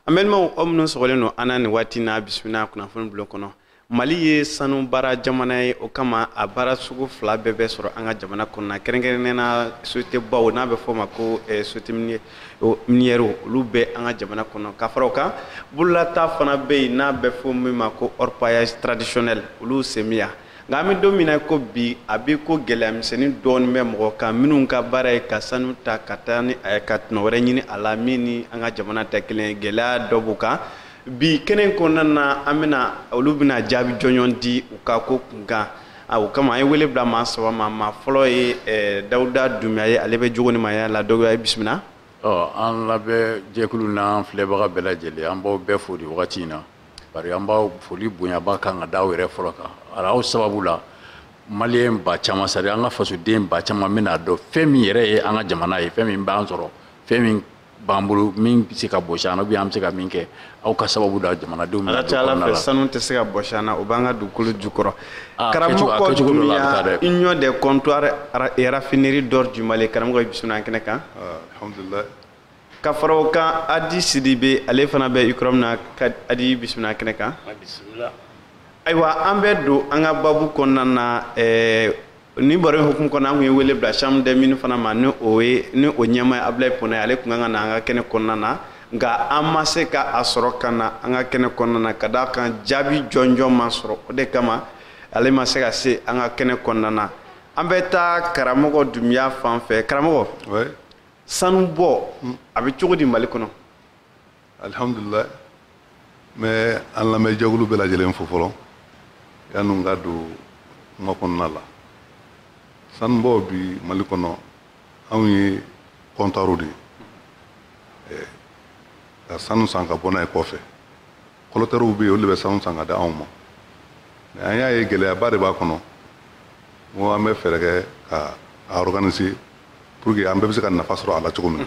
an balimaw aw minnu sɔgɔlen don an na nin waati na bisimila kunnafoni bulon kɔnɔ mali ye sanu baara jamana ye o kama a baara sugu fila bɛɛ bɛ sɔrɔ an ka jamana kɔnɔna kɛrɛnkɛrɛnnɛna sociétébaw n'a bɛ fɔ o ma ko eh, société minière o miniyɛriw olu bɛ an ka jamana kɔnɔ ka fara o kan bololata fana bɛ yen n'a bɛ fɔ min ma ko orpaillage traditionnel olu semiya nka an bɛ don min na ko bi a bɛ ko gɛlɛya misɛnnin dɔɔnin bɛ mɔgɔ kan minnu ka baara ye ka sanu ta ka taa ni a ye ka tɔnɔ wɛrɛ ɲini a la min ni an ka jamana tɛ kelen ye gɛlɛya dɔ b'u kan bi kɛnɛ kɔnɔna na an bɛna olu bɛna jaabi jɔnjɔn di u ka ko kunkan a o kama an ye wele bila maa saba ma maa fɔlɔ ye eh, dawuda dunbiya ye ale bɛ jogo ni maaya la dawuda i bisimila ɔ an lamɛnjɛkulu n'an filɛbaga bɛɛ lajɛlen an b'aw bɛɛ fo nin wagati in na bari an b'aw foli bonyaba kan ka da aw yɛrɛ fɔlɔ kan a aw sababu la maliyɛn ba caman c'est-à-dire an ka fasoden ba caman bɛna dɔn fɛn min yɛrɛ ye an ka jamana ye fɛn min b'an sɔrɔ fɛn min b'an bolo min bɛ se ka bɔsi an na ou bien an bɛ se ka min kɛ aw ka sababu don jamanadenw bɛna don kɔnɔna la ala fɛ sanu tɛ se ka bɔsi an na o b'an ka dugukolo jukɔrɔ ah, karamɔgɔ dunbiya union des comptoirs et raffineries d'or du Mali karamɔgɔ i bisimila an kɛnɛ kan ah, alhamdulillah ka fara o kan adi sidibe ale fana bɛ ucrom na adi i bisimila an kɛnɛ kan ayiwa an bɛ don an ka babu kɔnɔna na ɛɛ eh, nin baro hukumu kɔnɔ an kun ye wele bila chambre des mines fana ma ni o ye ni o ɲɛmaa ye abulayi pona ye ale kun kan ka na an ka kɛnɛ kɔnɔna na nka an ma se ka a sɔrɔ ka na an ka kɛnɛ kɔnɔna na ka d'a kan jaabi jɔnjɔn ma sɔrɔ o de kama ale ma se ka se an ka kɛnɛ kɔnɔna na an bɛ taa karamɔgɔ dunbiya fan fɛ karamɔgɔ sanubɔ a bɛ cogo di mali kɔnɔ alihamudulila n bɛ an lamɛnjɛkulu bɛɛ lajɛlen fo fɔlɔ yanni n ka don kuma kɔnɔna la sanubɔ bi mali kɔnɔ anw ye comptoir de ye eh, ka sanu san ka bɔ n'a ye kɔfɛ collecteurw bɛ yen olu de bɛ sanu san k'a di anw ma mais an y'a ye gɛlɛyaba de b'a kɔnɔ n ko an bɛ fɛɛrɛ kɛ ka a organiser pour que an bɛɛ bɛ se ka nafa sɔrɔ a la cogo min na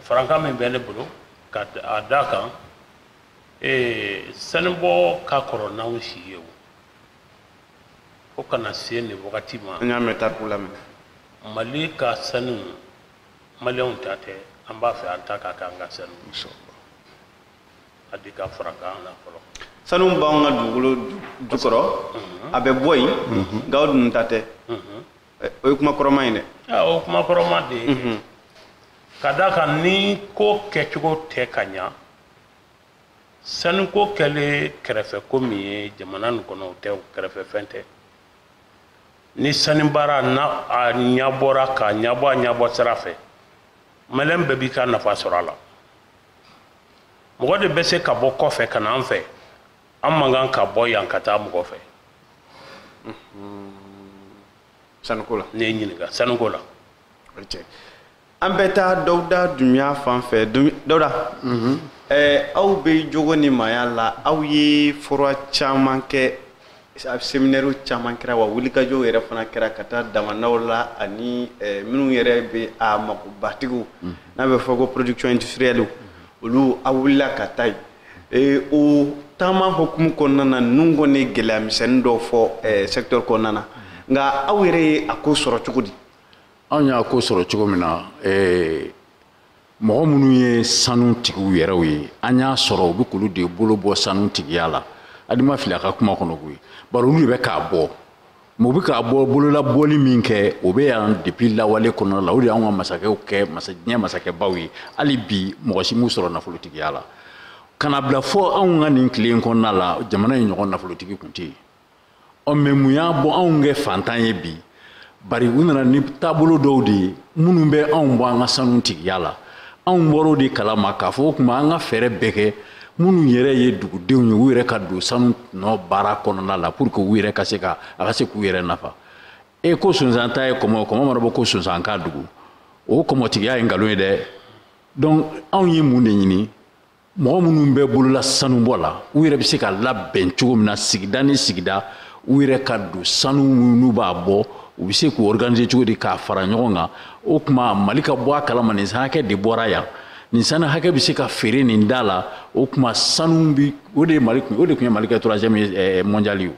farankan min bɛ ne bolo ka a da kan ee sanubɔ ka kɔrɔ n'anw si ye o fo ka na se nin wagati ma an y'a mɛn tariku la mais mali ka sanu maliyɛnw ta tɛ an b'a fɛ an ta ka k'an ka sanu adi ka farankan na fɔlɔ sanu b'anw ka dugukolo jukɔrɔ a bɛ bɔ yen nka anw dun ta tɛ o ye kuma kɔrɔma ye dɛ ah, o kuma kɔrɔma de ye mhm. ka d'a kan ni ko kɛcogo tɛ ka ɲa sanuko kɛlen kɛrɛfɛ ko min ye jamana nin kɔnɔ o tɛ o kɛrɛfɛ fɛn tɛ ni sani baara na a ɲabɔra k'a ɲabɔ a ɲabɔ sira fɛ maliyɛn bɛɛ b'i ka nafa sɔrɔ a la mɔgɔ de bɛ se ka bɔ kɔfɛ ka na an fɛ an man kan ka bɔ yan ka taa mɔgɔ fɛ sanuko la ne ye ɲininka sanuko la an bɛ taa dawuda dunbiya fan fɛ dawuda mhm. eh, aw bɛ jogo ni maaya la aw ye fora caman kɛ seminɛriw caman kɛra wa wulikajɔw yɛrɛ fana kɛra ka taa damanaw la ani eh, minnu yɛrɛ bɛ a magobatigiw mhm. n'a bɛ fɔ ko production industrielle olu aw wulila ka taa yen ee o taama hukumu kɔnɔna na ninnu kɔni ye gɛlɛya misɛnnin dɔw fɔ eh, secteur kɔnɔna na nka aw yɛrɛ ye a ko sɔrɔ cogo di anw y'a ko sɔrɔ cogo min na eh, mɔgɔ minnu ye sanu tigiw yɛrɛw ye an y'a sɔrɔ u bɛ k'olu de bolo bɔ sanu tigiya la adi ma fili a ka kuma kɔnɔ koyi bari olu de bɛ k'a bɔ mais u bɛ k'a bɔ bololabɔli min kɛ o bɛ yan depuis lawale kɔnɔna la o de y'an ka masakɛw kɛ diɲɛ masakɛbaw ye hali bi mɔgɔ si m'u sɔrɔ nafolotigiya la ka na bila fɔ anw ka nin tile in kɔnɔna la jamana in ɲɔgɔn nafolotigi tun tɛ yen ɔ mais mun y'a bɔ anw kɛ fantan ye bi bari u nana ni taabolo dɔw de ye minnu bɛ anw bɔ an ka sanu tigiya la anw bɔr'o de kalama k'a fɔ o tuma an ka fɛɛrɛ bɛɛ kɛ minnu yɛrɛ ye dugudenw ye u yɛrɛ ka don sanu nɔ baara kɔnɔna la pour que u yɛrɛ ka se ka a ka se k'u yɛrɛ nafa e ko sonsan ta ye kɔmɔ kɔmɔ mana bɔ ko sonsan ka dogo o kɔmɔtigiya ye nkalon ye dɛ donc anw ye mun de ɲini mɔgɔ minnu bɛ bolola sanubɔ la u yɛrɛ bɛ se ka labɛn cogo min na sigida ni sigida u yɛrɛ ka don sanu minnu b'a bɔ u bɛ se k'u organiser cogo di k'a fara ɲɔgɔn kan o tuma mali ka bɔ a kalama nin san hakɛ de bɔra yan nin sanu hakɛ bɛ se ka feere nin da la o tuma sanu bi o de ye mali o de tun ye mali kɛ troisième eh, mondial ye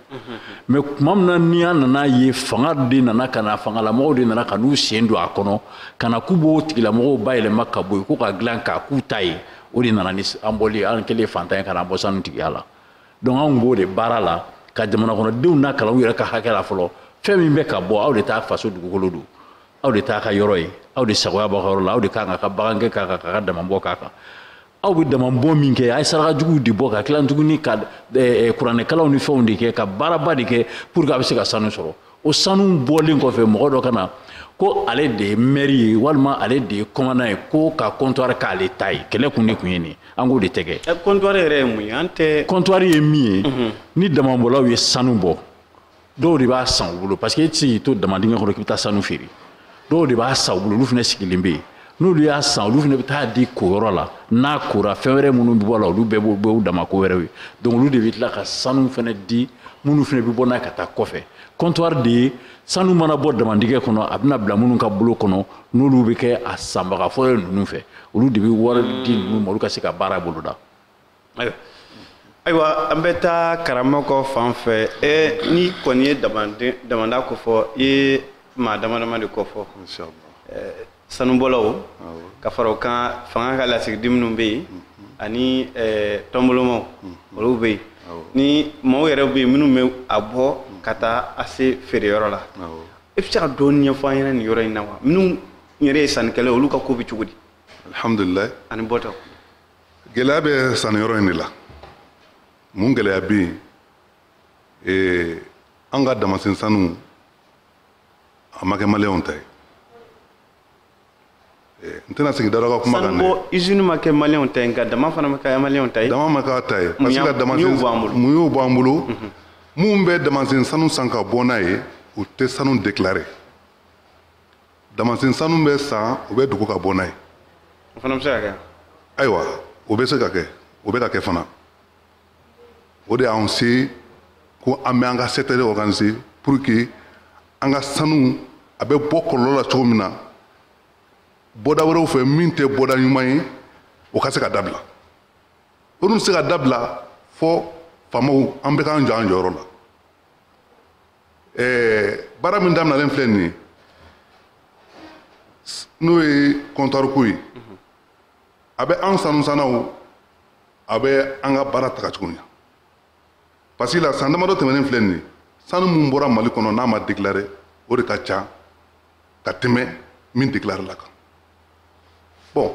mais tuma min na ni an nana ye fanga de nana ka na fangalamɔgɔw de nana ka n'u sen don a kɔnɔ ka na k'u b'o tigilamɔgɔw bayɛlɛma ka bɔ yen ko ka dilan k'a k'u ta ye o de nana ni an bɔli an kɛlen fantan ye ka na bɔ sanu tigiya la donc anw b'o de baara la ka jamanakɔnɔdenw nakalan u yɛrɛ ka hakɛ la fɔlɔ fɛn min bɛ ka bɔ aw de ta faso dugukolo don aw de t'a ka yɔrɔ ye aw de sagoya b'a ka yɔrɔ la aw de ka kan ka bagangɛn k'a kan ka damabɔ k'a kan aw bɛ damabɔ min kɛ a ye saraka juguw de bɔ ka tila tuguni ka eh, eh, kuranɛkalanw ni fɛnw de kɛ ka baaraba de kɛ pour que a bɛ se ka sanu sɔrɔ o sanu bɔlen kɔfɛ mɔgɔ dɔ ka na ko ale de ye mɛri ye walima ale de ye kɔmandan ye ko ka kɔntwari k'ale ta ye kɛlɛ kun de kun ye nin an k'o de tɛ kɛ kɔntwari yɛrɛ ye mun ye an tɛ kɔntwari ye min ye mhm. ni damabɔlaw ye sanu bɔ dɔw de b'a san u bolo parce que e tɛ se k'i to damadingɛ kɔnɔ k'i bɛ taa sanu feere dɔw de b'a san u bolo olu fana sigilen bɛ yen n'olu y'a san olu fana bɛ taa di koyɔrɔ la n'a kora fɛn wɛrɛ minnu bɛ bɔ a la olu bɛɛ b'u dama ko wɛrɛw ye donc olu de bɛ tila ka sanu fana di minnu fana bɛ bɔ n'a ye ka taa kɔfɛ comptoir de ye sanu mana bɔ damadingɛ kɔnɔ a bɛna bila minnu ka bolo kɔnɔ n'olu bɛ kɛ a sanbaga fɔlɔ ninnu fɛ olu de bɛ wari di ninnu ma olu ka se ka baara boloda ayiwa an bɛ taa karamɔgɔ fan fɛ n'i kɔni ye damanda kofɔ i ye maa dama dama de kofɔ sanubɔlaw ka fara o kan fanga ka lasigiden minnu bɛ yen ani tɔnbolomaw olu bɛ yen ni maaw yɛrɛ bɛ yen minnu bɛ a bɔ ka taa a se feereyɔrɔ la i bɛ se ka dɔɔnin ɲɛfɔ an ɲɛna nin yɔrɔ in na wa minnu yɛrɛ ye sannikɛlaw olu ka ko bɛ cogo di alihamudulilayi ani bɔtaw gɛlɛya bɛ sanniyɔrɔ in de la mun gɛlɛya bɛ yen ee an ka damasen sanu a ma kɛ maliyɛnw ta ye n tɛna segin dara ka kuma kan dɛ sanubɔ usine ma kɛ maliyɛnw ta ye nka dama fana ma kɛ maliyɛnw ta ye dama ma k'a ta ye parce que damasen mun y'o b'an bolo mun bɛ damasen sanu san ka bɔ n'a ye u tɛ sanu déclarer damasen sanu bɛ san u b'a dogo ka bɔ n'a ye o fana bɛ se ka kɛ ayiwa o bɛ se ka kɛ o bɛ ka kɛ fana o de y'anw se ko an bɛ an ka secteur organiser pour que an ka sanu a bɛ bɔ kɔlɔlɔ la cogo min na bɔda wɛrɛw fɛ min tɛ bɔda ɲuman ye o ka se ka dabila o dun tɛ se ka dabila fɔ faamaw an bɛɛ k'an jɔ an jɔyɔrɔ la ɛɛ baara min daminalen filɛ nin ye n'o ye comptoir ko ye a bɛ an sanusannaw a bɛ an ka baara taga cogo ɲa parce que la san damadɔ tɛmɛnen filɛ nin ye sanu min bɔra mali kɔnɔ n'a ma déclaré o de ka ca ka tɛmɛ min déclaré la kan bon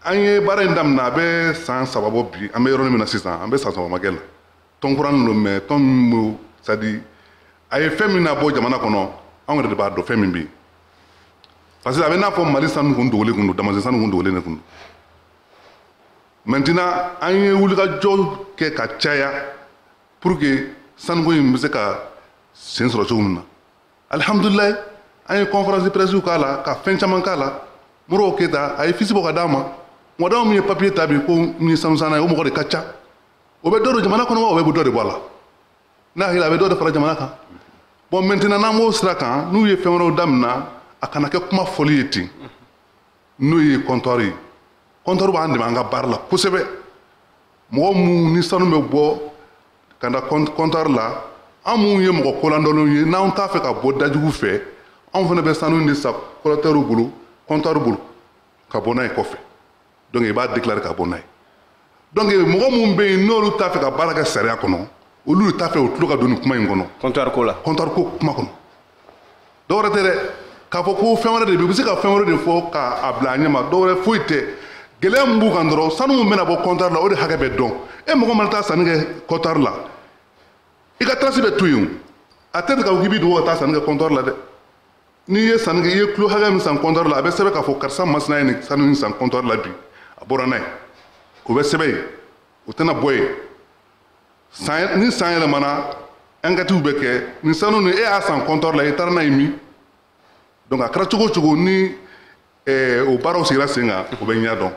an ye baara in daminɛ a bɛ san saba bɔ bi an bɛ yɔrɔnin min na sisan an bɛ san saba ma kɛ la tɔn kura nin don mais tɔn min bɛ c'est à dire a ye fɛn min na bɔ jamana kɔnɔ anw yɛrɛ de b'a dɔn fɛn min bɛ yen parce que a bɛ n'a fɔ mali sanu kun dogolen kun don damasen sanu kun dogolen de kun don maintenant an ye wulikajɔ kɛ ka caya pour que sanuko in bɛ se ka sen sɔrɔ cogo min na alihamudulilayi an ye conférence de presse k'a la ka fɛn caman k'a la modibo keyita a ye fiche bɔ ka d'a ma mɔgɔ da min ye papier ta bi ko min ye sanusanna ye o mɔgɔ de ka ca o bɛ dɔ don jamana kɔnɔ wa o bɛ dɔ de bɔ a la ne hakili a bɛ dɔ de fara jamana kan bɔn mɛntenan n'an b'o sira kan n'u ye fɛn wɛrɛw damina a kana kɛ kuma fɔli ye ten n'o ye kɔntɔri ye kɔntɔri b'an dɛmɛ an ka baara la kosɛbɛ mɔgɔ minnu ni sanu bɛ bɔ ka na kɔntɔri la an minnu ye mɔgɔ koladɔnnenw ye n'an t'a fɛ ka bɔ dajugu fɛ anw fana bɛ sanu de san kɔlɛkitɛriw bolo kɔntɔri bolo ka bɔ n'a ye kɔfɛ donc i b'a déclarer ka bɔ n'a ye donc mɔgɔ minnu bɛ yen n'olu t'a fɛ ka baara kɛ sariya kɔnɔ olu de t'a fɛ u tulo ka don nin kuma in kɔnɔ comptoir ko la comptoir ko kuma kɔnɔ dɔwɛrɛ tɛ dɛ k'a fɔ ko fɛn wɛrɛ de bɛ u bɛ se ka fɛn wɛrɛ de fɔ k'a bila a ɲɛ ma dɔwɛrɛ foyi tɛ gɛlɛya min b'u kan dɔrɔn sanu min bɛna bɔ comptoir la o de hakɛ bɛ dɔn e mɔgɔ mana taa sanni kɛ comptoir la i ka trace bɛ to yen o a tɛ k'a fɔ k'i b'i dogo ka taa sanni kɛ comptoir la dɛ n'i ye sanni kɛ i ye kilo hakɛ min san kɔntɔri la a bɛ sɛbɛn k'a fɔ karisa masina ye nin sanu in san kɔntɔri la bi a bɔra n'a ye o bɛ sɛbɛn yen o tɛna bɔ yen san ni san yɛlɛmana ankɛtiw bɛ kɛ nin sanu nin e y'a san kɔntɔri la i taara n'a ye min donc a kɛra cogo o cogo ni eh, o baaraw sigira sen kan o bɛ ɲɛ dɔn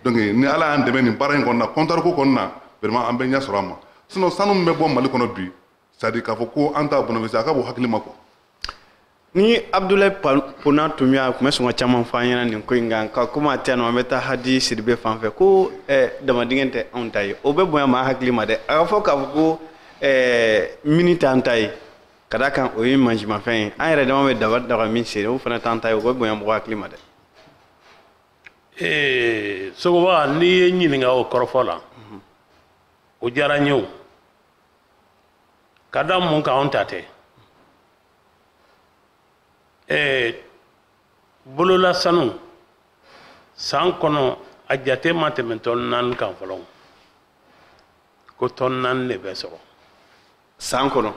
donc ni ala y'an dɛmɛ nin baara in kɔnɔna kɔntɔriko kɔnɔna vraiment an bɛ ɲɛ sɔrɔ a ma sinon sanu min bɛ bɔ mali kɔnɔ bi c'est-à-dire k'a fɔ ko an t'a bénéficier a ka bon hakili ma quoi ni abdulayi pona tun bɛ yan a tun bɛ sɔn ka caman fɔ an ɲɛna nin ko in kan nka komi a tɛ yan nɔ an bɛ taa hadi sidibe fan fɛ ko eh, damadingɛ tɛ anw ta ye o bɛ bonya maa hakili ma dɛ a ka fɔ k'a fɔ ko eh, mini t'an ta ye ka da kan o ye mansinmafɛn ye an yɛrɛ dama bɛ daba ta ka min sen o fana t'an ta ye o bɛ bonya mɔgɔ hakili ma dɛ ee eh, sogoba n'i ye n ɲininka o kɔrɔfɔ la o diyara n ye o ka da mun kan anw ta tɛ ɛɛ bolola sanu san kɔnɔ a jate ma tɛmɛ tɔn naani kan fɔlɔ ko tɔn naani de bɛ sɔrɔ san kɔnɔ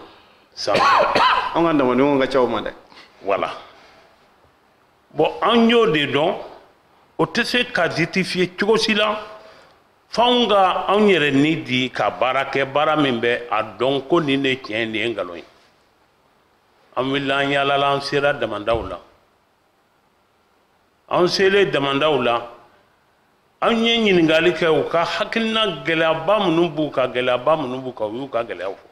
san kɔnɔ an ka damadenw ka ca o ma dɛ wala bɔn an y'o de dɔn o tɛ se ka justifier cogo si la f'anw ka anw yɛrɛ ni di ka baara kɛ baara min bɛ a dɔn ko nin de tiɲɛ nin ye nkalon ye an wulila an yaalala an sera damandaw la an selen damandaw la an ye ɲininkali kɛ u ka hakilina gɛlɛyaba minnu b'u kan gɛlɛyaba minnu b'u kan u y'u ka gɛlɛyaw fɔ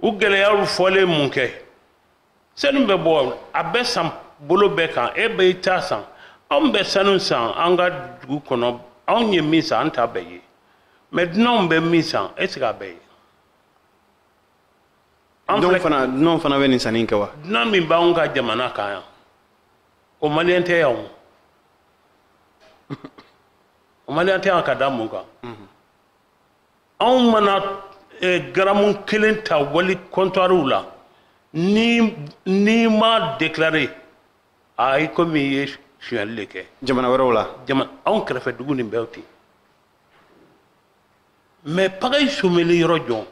u gɛlɛyaw fɔlen minkɛ sanu bɛ bɔ a bɛ san bolo bɛɛ kan e bɛ i ta san anw bɛ sanu san an ka dugu kɔnɔ anw ye min san an t'a bɛɛ ye mɛ dunanw bɛ min san est ce que a bɛɛ ye dunanw fana dunanw fana bɛ nin sanni in kɛ wa dunan min b'anw ka jamana kan yan o maliyɛn tɛ yan o o maliyɛn tɛ yan ka da mun kan anw mana eh, garamu kelen ta wali kɔntwariw la n'i m'a déclaré a i komi i ye sonyali de kɛ jamana wɛrɛw la jama anw kɛrɛfɛ dugu nin bɛ ten mɛ pagayi someli yɔrɔ jɔn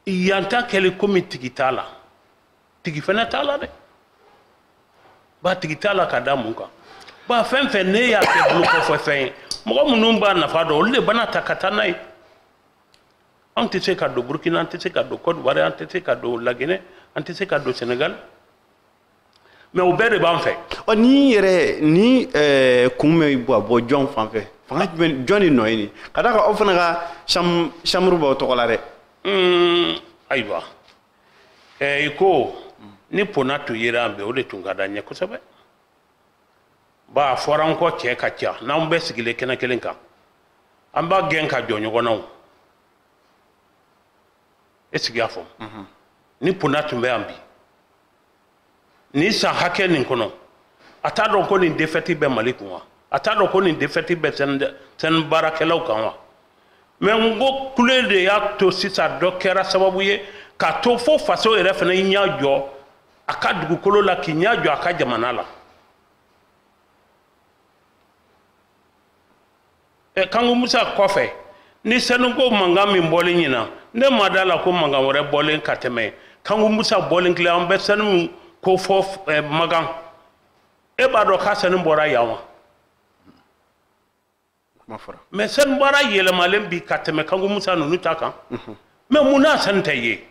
yan ta kɛlen komi tigi t'a la tigi fana t'a la dɛ ba tigi t'a la ka da mun kan ba fɛn fɛn n'e y'a kɛ bolo kɔfɛ fɛn ye mɔgɔ minnu b'a nafa dɔn olu de bɛn'a ta ka taa n'a ye anw tɛ se ka don burkina an tɛ se ka don cote d'ivoire an tɛ se ka don laginɛ an tɛ se ka don senegal mɛ o bɛɛ de b'an fɛ ɔ ni yɛrɛ ni eh, kun bɛ bɔ bɔ jɔn fan fɛ fanga jumɛn jɔn de nɔ ye nin ka d'a kan aw fana ka chambre b'aw tɔgɔ la dɛ ayiwa i ko ni pona tun yera yan bi o de tun ka d'an ye kosɛbɛ ba a fɔra n kɔ cɛ ka ca n'an bɛɛ sigilen kɛnɛ kelen kan an b'a gɛn ka jɔ ɲɔgɔn na o e sigi y'a fɔ ni pona tun bɛ yan bi nin san hakɛ nin kɔnɔ a t'a dɔn ko nin defɛti bɛ mali kun wa a t'a dɔn ko nin defɛti bɛ sanu baarakɛlaw kan wa mɛ n ko kule de y'a to sisan dɔ kɛra sababu ye k'a to fo faso yɛrɛ fana y'i ɲɛ jɔ a ka dugukolo la k'i ɲɛ jɔ a ka jamana la ɛ kanku musa kɔfɛ nin sanuko mankan min bɔlen ɲinan ne ma d'a la ko mankan wɛrɛ bɔlen ka tɛmɛ kanku musa bɔlen kelen an bɛ sanu ko fɔ ɛ magan e b'a dɔn k'a sanu bɔra yan wa mɛ sanu bɔra yɛlɛmalen bi ka tɛmɛ kanku musa ninnu ta kan mɛ munna sanu tɛ ye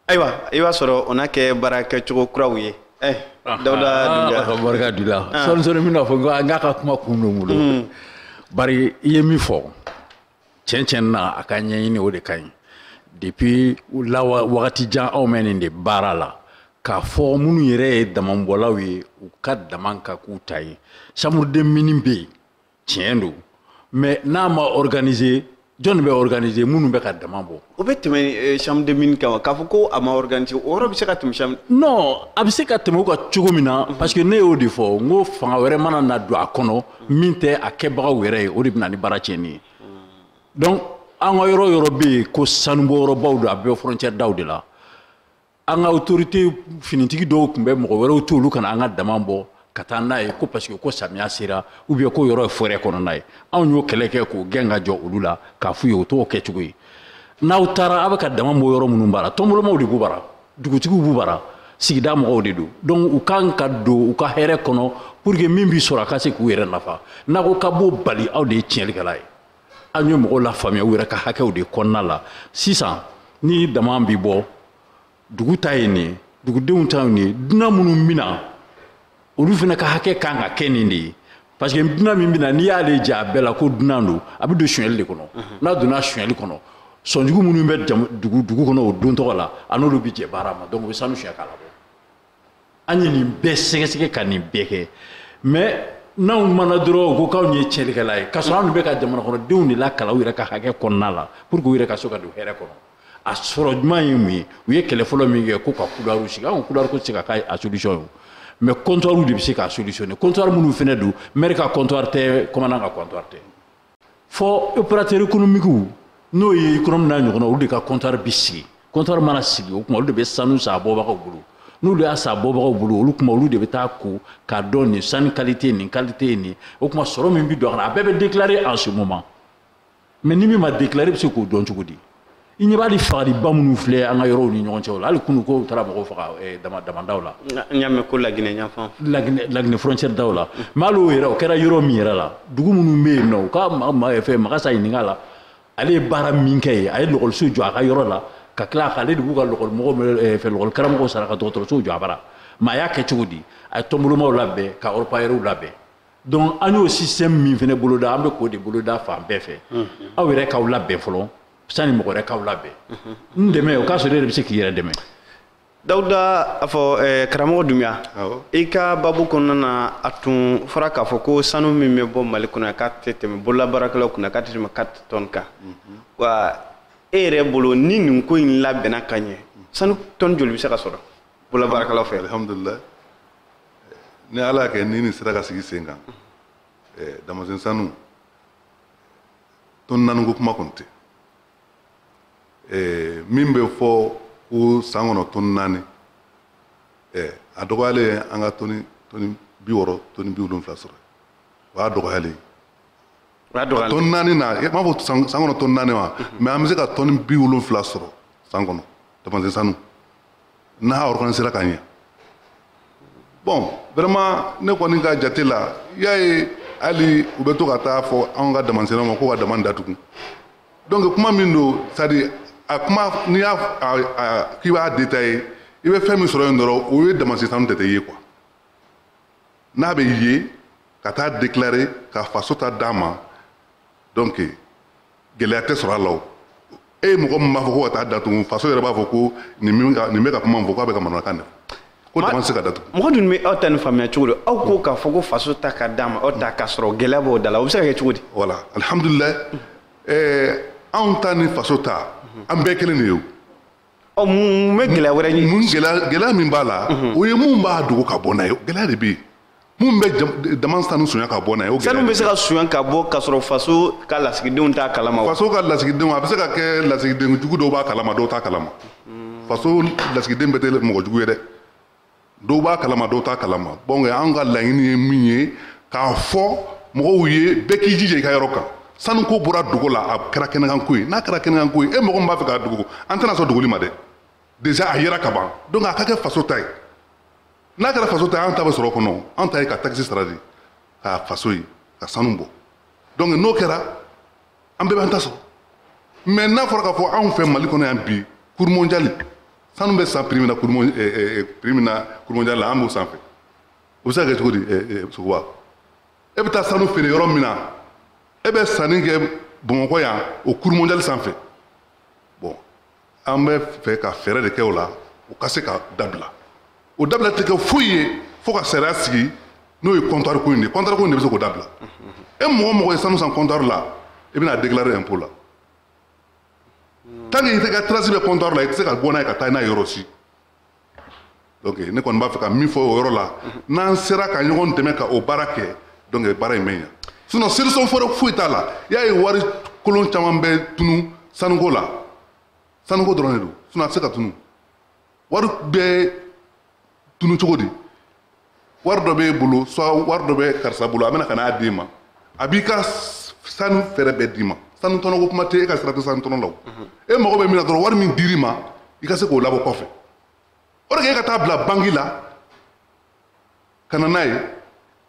ayiwa i b'a sɔrɔ o na kɛ baara kɛcogo kuraw ye eh, dawuda dunbiya ka barika d'u la sɔɔni sɔɔni n bɛna fɔ n k'a ka kuma kun don n bolo hmm. bari i ye min fɔ tiɲɛ tiɲɛ na a ka ɲɛɲini o de ka ɲi depuis la wagati jan aw bɛ nin de baara la k'a fɔ minnu yɛrɛ ye damanbɔlaw ye u ka daman ka k'u ta ye chambre des mines bɛ yen tiɲɛ don mais n'a ma organiser jɔnni bɛ organiser minnu bɛ ka dama bɔ. o bɛ tɛmɛ eh, chambre de mine kan wa k'a fɔ ko a ma organiser o yɔrɔ bɛ se ka tɛmɛ chambre. non a bɛ se ka tɛmɛ o kan cogo min na. Mhm. parce que ne y'o de fɔ n ko fanga wɛrɛ mana na don a kɔnɔ min tɛ a kɛbagaw yɛrɛ ye o de bɛ na ni baara tiɲɛni ye. Mhm. donc an ka yɔrɔ yɔrɔ bɛ yen ko sanubɔyɔrɔbaw don a bɛ frontière daw de la an ka autorité finitigi dɔw tun bɛ mɔgɔ wɛrɛw to olu ka na an ka dama bɔ ka taa n'a ye ko parce que ko samiya sera ou bien ko yɔrɔ ye forêt kɔnɔna ye anw y'o kɛlɛ kɛ k'o gɛn ka jɔ olu la k'a f'u ye o t'o kɛcogo ye n'aw taara aw bɛ ka dama bɔ yɔrɔ minnu bara tɔnbolomaw de b'u bara dugutigiw b'u bara sigida mɔgɔw de don donc u kan ka don u ka hɛrɛ kɔnɔ pour que min bi sɔrɔ a ka se k'u yɛrɛ nafa n'a ko k'a b'o bali aw de ye tiɲɛlikɛla ye an ye mɔgɔw lafaamuya u yɛrɛ ka hakɛw de kɔnɔna la sisan ni dama bi bɔ dugu ta ye nin dugudenw ta ye nin dunan minnu bɛ na olu fana ka hakɛ kan ka kɛ nin de ye parce que dunan min bɛ na n'i y'ale ja a bɛɛ la ko dunan don a bɛ don suɲɛli de kɔnɔ mhm. n'a donna suɲɛli kɔnɔ sɔnjugu minnu bɛ dugu kɔnɔ o don tɔgɔ la a n'olu bɛ jɛ baara ma donc u bɛ sanu suɲɛ k'a labɔ an ye nin bɛɛ sɛgɛsɛgɛ ka nin bɛɛ kɛ mais n'anw mana dɔrɔn ko k'anw ye tiɲɛlikɛla ye k'a sɔrɔ anw bɛ ka jamanakɔnɔdenw de lakalan u yɛrɛ ka hakɛ kɔnɔna la pour que u yɛrɛ ka se ka don hɛrɛ kɔnɔ a sɔrɔ ɲuman ye mun ye u ye kɛlɛ fɔlɔ min kɛ ko ka couloir sigi anw couloir ko tɛ se ka k'a a solution ye mais comptoir de bɛ se k'a solutionner comptoir minnu fana don maire ka comptoir tɛ commandant ka comptoir tɛ fɔ opérateur économique n'o ye économie n'a ɲɔgɔnna olu de ka comptoir bi sigi comptoir mana sigi o tuma olu de bɛ sanu san a bɔbagaw bolo n'olu y'a san a bɔbagaw bolo olu tuma olu de bɛ taa ko k'a dɔn nin sanu qualité nin qualité ye nin o tuma sɔrɔ min bɛ don a la a bɛɛ bɛ déclarer en ce moment mais ni min ma déclarer bɛ se k'o dɔn cogo di i ɲɛ b'a di fagaliba minnu filɛ an ka yɔrɔw ni ɲɔgɔn cɛw la hali kunu ko u taara mɔgɔw faga eh, damandaw la n y'a mɛn ko laginɛ yanfan laginɛ frontière daw la mais hali o yɛrɛ o kɛra yɔrɔ min yɛrɛ la dugu minnu bɛ yen nɔ u ka fɛn magasa ɲininka la ale ye baara min kɛ yen a ye lɔgɔliso jɔ a ka yɔrɔ la ka tila k'ale de b'u ka lɔgɔlimɔgɔ eh, fɛn lɔgɔli karamɔgɔw sara ka dɔgɔtɔrɔsow jɔ a bara mais a y'a kɛ cogo di a ye tɔnbolomaw labɛn ka orpailleurs labɛn donc an y'o système min fana boloda an bɛ k'o de boloda fan bɛɛ fɛ aw yɛrɛ k'aw labɛn fɔlɔ sani mɔgɔ wɛrɛ k'aw labɛn n dɛmɛ o k'a sɔrɔ e yɛrɛ bɛ se k'i yɛrɛ dɛmɛ dawuda a fɔ eh, karamɔgɔ dunbiya i ka babu kɔnɔna na a tun fɔra k'a fɔ ko sanu min bɛ bɔ mali kɔnɔ k'a tɛ tɛmɛ bololabaarakɛlaw kunna k'a tɛ tɛmɛ quatre tonnes kan mhm. wa e yɛrɛ bolo ni nin ko in labɛnna ka ɲɛ sanu tonne joli bɛ se ka sɔrɔ bololabaarakɛlaw fɛ alhamdulilayi ni ala y'a kɛ ni nin sera ka sigi sen kan eh, damasen sanu tɔni naani ko kuma kɔni tɛ eh, min bɛ fɔ ko san kɔnɔ tɔni naani eh, a dɔgɔyalen an ka tɔni tɔni bi wɔɔrɔ tɔni bi wolonwula sɔrɔ o y'a dɔgɔyalen tɔni naani na n b'a fɔ san kɔnɔ tɔni naani wa mais an bɛ se ka tɔni bi wolonwula sɔrɔ san kɔnɔ damasen sanu n'a organisera ka ɲɛ bon vraiment ne kɔni ka jate la i y'a ye hali u bɛ to ka taa fɔ anw ka damasennaw ma ko ka dama datugu donc kuma min don c'est à dire a kuma n'i y'a k'i b'a détailler i bɛ fɛn min sɔrɔ yen dɔrɔn o ye damasen sanu tɛ tɛ ye quoi n'a bɛ ye ka taa déclarer ka faso ta d'a ma donc gɛlɛya tɛ sɔrɔ a la o e ye mɔgɔ min b'a fɔ ko ka taa datugu faso yɛrɛ b'a fɔ ko nin min ka nin bɛ ka kuma min fɔ k'a bɛ ka manamanakan de ko dama tɛ se ka datugu mɔgɔ dun bɛ aw ta nin faamuya cogo di aw ko k'a fɔ ko faso ta ka d'a ma aw ta k'a sɔrɔ gɛlɛya b'o da la o bɛ se ka kɛ cogo di voilà alihamudulilayi anw ta ni faso ta an bɛɛ kelen de ye o ɔ mun bɛ gɛlɛya wɛrɛ ye mun gɛlɛya gɛlɛya min b'a la mhm. o ye mun b'a dogo ka bɔ n'a ye gɛlɛya de bɛ yen mun bɛ dama sanu sonya ka bɔ n'a ye o gɛlɛya sanu bɛ se ka sonya ka bɔ k'a sɔrɔ faso ka lasigidenw t'a kalama faso ka lasigidenw a bɛ se ka kɛ lasigiden jugu dɔw b'a kalama dɔw t'a kalama faso lasigiden bɛɛ tɛ mɔgɔ jugu ye dɛ dɔw b'a kalama dɔw t'a kalama bon anw ka laɲini ye min ye k'a fɔ mɔgɔw ye bɛɛ k'i jija i ka yɔrɔ kan sanuko bɔra dogo la a kɛra kɛnɛkanko ye n'a kɛra kɛnɛkanko ye e mɔgɔ min b'a fɛ k'a dogo an tɛna sɔn dogoli ma dɛ déjà a yera ka ban donc a ka kɛ faso ta ye n'a kɛra faso ta ye an ta bɛ sɔrɔ o kɔnɔ an ta ye ka taxe sara de ka faso ye ka sanu bɔ donc n'o kɛra an bɛɛ b'an ta sɔrɔ mais n'a fɔra k'a fɔ anw fɛ mali kɔnɔ yan bi cours mondial sanu bɛ san prix min na cours mon ɛɛ prix min na cours mondial la an b'o sanfɛ o bɛ se ka kɛ cogo di ɛɛ sogoba e bɛ taa sanu feere yɔrɔ min na e bɛ sanni kɛ bamakɔ yan o cours mondial sanfɛ bon an bɛ fɛ ka fɛɛrɛ de kɛ o la o ka se ka dabila o dabila tɛ kɛ foyi ye fo ka sariya sigi n'o ye comptoir ko in de ye comptoir ko in de bɛ se k'o dabila e mɔgɔ mɔgɔ ye sanu san comptoir la i bɛna déclarer impôt la tant que i ka trace bɛ comptoir la i tɛ se ka bɔ n'a ye ka taa n'a ye yɔrɔ si donc ne kɔni b'a fɛ ka min fɔ o yɔrɔ la n'an sera ka ɲɔgɔn dɛmɛ ka o baara kɛ donc baara in bɛ ɲa sinon solution wɛrɛ foyi t'a la i y'a ye wari kolon caman bɛ tunu sanuko la sanuko dɔrɔn de don sinon a tɛ se ka tunu wari bɛɛ tunu cogo di wari dɔ b'e bolo soit wari dɔ bɛ karisa bolo a bɛ na ka n'a d'e ma a b'i ka sanu frais bɛɛ d'i ma sanu tɔnɔ ko kuma tɛ e ka sira tɛ sanu tɔnɔ la o e mago bɛ min na dɔrɔn wari min dir'i ma i ka se k'o labɔ kɔfɛ o de kɛ e ka taa bila banki la ka na n'a ye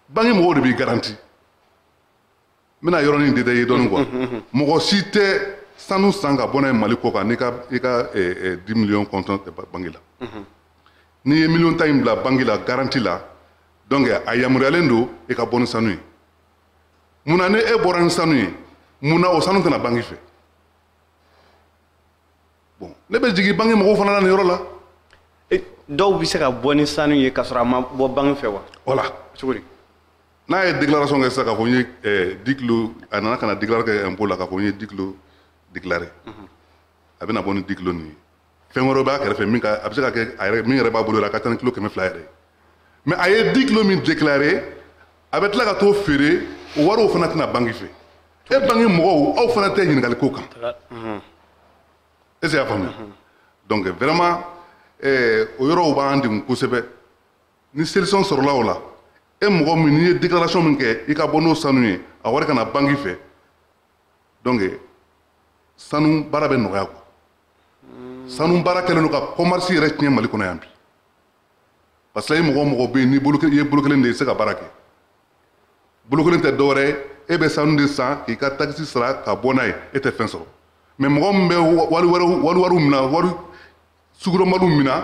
banki mɔgɔw de b'i garanti n bɛna yɔrɔnin détaillé dɔɔni quoi mɔgɔ si tɛ sanu san ka bɔ n'a ye mali kɔ kan n'i ka i ka dix millions comptant tɛ banki la n'i ye miliyɔn tan in bila banki la garanti la donc a yamaruyalen don i ka bɔ ni sanu ye mun na ni e bɔra ni sanu ye mun na o sanu tɛ na banki fɛ bon ne bɛ jigin banki mɔgɔw fana na nin yɔrɔ la eh, dɔw bɛ se ka bɔ ni sanu ye ka sɔrɔ a ma bɔ banki fɛ wa voilà cogo di n'a ye déclaration kɛ sisan k'a fɔ n ye eh, dix kilo a nana ka na déclaration kɛ impôt la k'a fɔ n ye dix kilo déclaré mhm. a bɛna bɔ ni dix kilo nin ye fɛn wɛrɛw b'a kɛrɛfɛ min ka a bɛ se ka kɛ a yɛrɛ min yɛrɛ b'a bolo yɛrɛ a ka ca ni kilo kɛmɛ fila yɛrɛ ye mais a ye dix kilo min déclaré a bɛ tila ka t'o feere o wariw fana tɛ na banki fɛ e banki mɔgɔw aw fana tɛ ɲininkali k'o kan est ce que i y'a faamuya donc vraiment eh, o yɔrɔw b'an degun kosɛbɛ ni solution sɔrɔla o la e mɔgɔ min n'i ye déclaration min kɛ i ka bɔ n'o sanu ye a wari ka na banki fɛ donc sanu baara bɛ nɔgɔya quoi sanu baara kɛlen don ka commerce yɛrɛ tiɲɛ mali kɔnɔ yan bi parce que i mɔgɔ mɔgɔ bɛ yen n'i bolo i ye bolo kelen de ye i tɛ se ka baara kɛ bolo kelen tɛ dɔwɛrɛ ye e bɛ sanu de san k'i ka takisi sara ka bɔ n'a ye e tɛ fɛn sɔrɔ mais mɔgɔ min bɛ wari wɛrɛw wari wariw minɛ wari sugu dɔnbaliw minɛ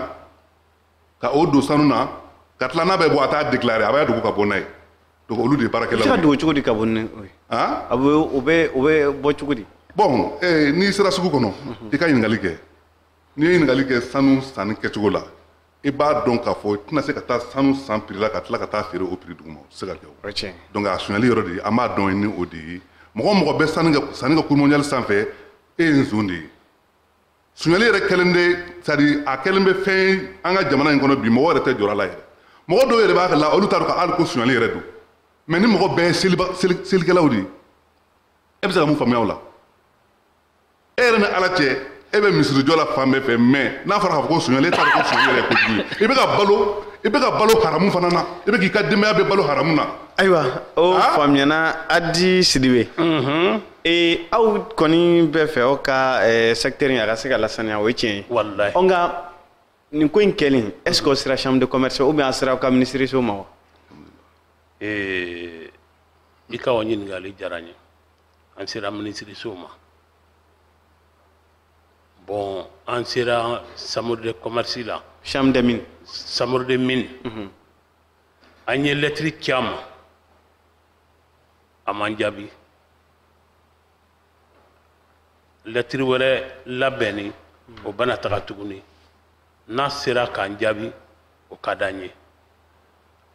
ka o don sanu na ka tila n'a bɛ bɔ a t'a déclaré a b'a dogo ka bɔ n'a ye donc olu de ye baarakɛlaw ye. i bɛ se ka dogo cogo di ka bɔ ni o ye. han a bɛ o bɛ o bɛ bɔ cogo di. bon ee n'i sera sugu kɔnɔ i ka ɲininkali kɛ. n'i ye ɲininkali kɛ sanu sanni kɛcogo la i b'a dɔn k'a fɔ i tɛna se ka taa sanu san prix la ka tila ka taa feere o prix duguma o tɛ se ka kɛ o donc a sonyali yɔrɔ de ye an b'a dɔn ni o de ye mɔgɔ mɔgɔ bɛ sanni kɛ sanni kɛ cours mondial sanfɛ e ye nson de ye sonyali yɛrɛ kɛlen de c'est à dire a kɛlen bɛ fɛn an ka jamana in kɔnɔ bi mɔgɔ yɛrɛ tɛ jɔrɔ a la yɛrɛ mɔgɔ dɔw yɛrɛ b'a la olu t'a dɔn ka hali ko sonyali yɛrɛ don mais ni mɔgɔ bɛɛ ye selikɛlaw de ye e bɛ se ka mun faamuya o la e yɛrɛ ni ala cɛ e bɛ misirijɔ la fan bɛɛ fɛ mais n'a fɔra k'a fɔ ko sonyali e t'a dɔn ko sonyali yɛrɛ ye kojugu ye i bɛ ka balo i bɛ ka balo haramu fana na i bɛ k'i ka denbaya bɛɛ balo haramu na. ayiwa o ah? faamuyana adi sidibe. Mhm. ee aw kɔni b'a fɛ aw ka eh, secteur in a ka se ka lasaniya o ye tiɲɛ ye. walayi. ɔ nka nin ko in kɛlen est ce que o sera chambre de commerce ou bien a sera aw ka minisiriso ma wa. ee i ka o ɲininkali diyara n ye. an sera minisiriso ma bɔn an sera chambre de commerce la chambre de mine chambre de mine mhm. an ye lɛtiri ci a ma a m'an jaabi lɛtiri wɛrɛ labɛnni mhm. o bɛna taga tuguni n'a sera k'an jaabi o ka d'an ye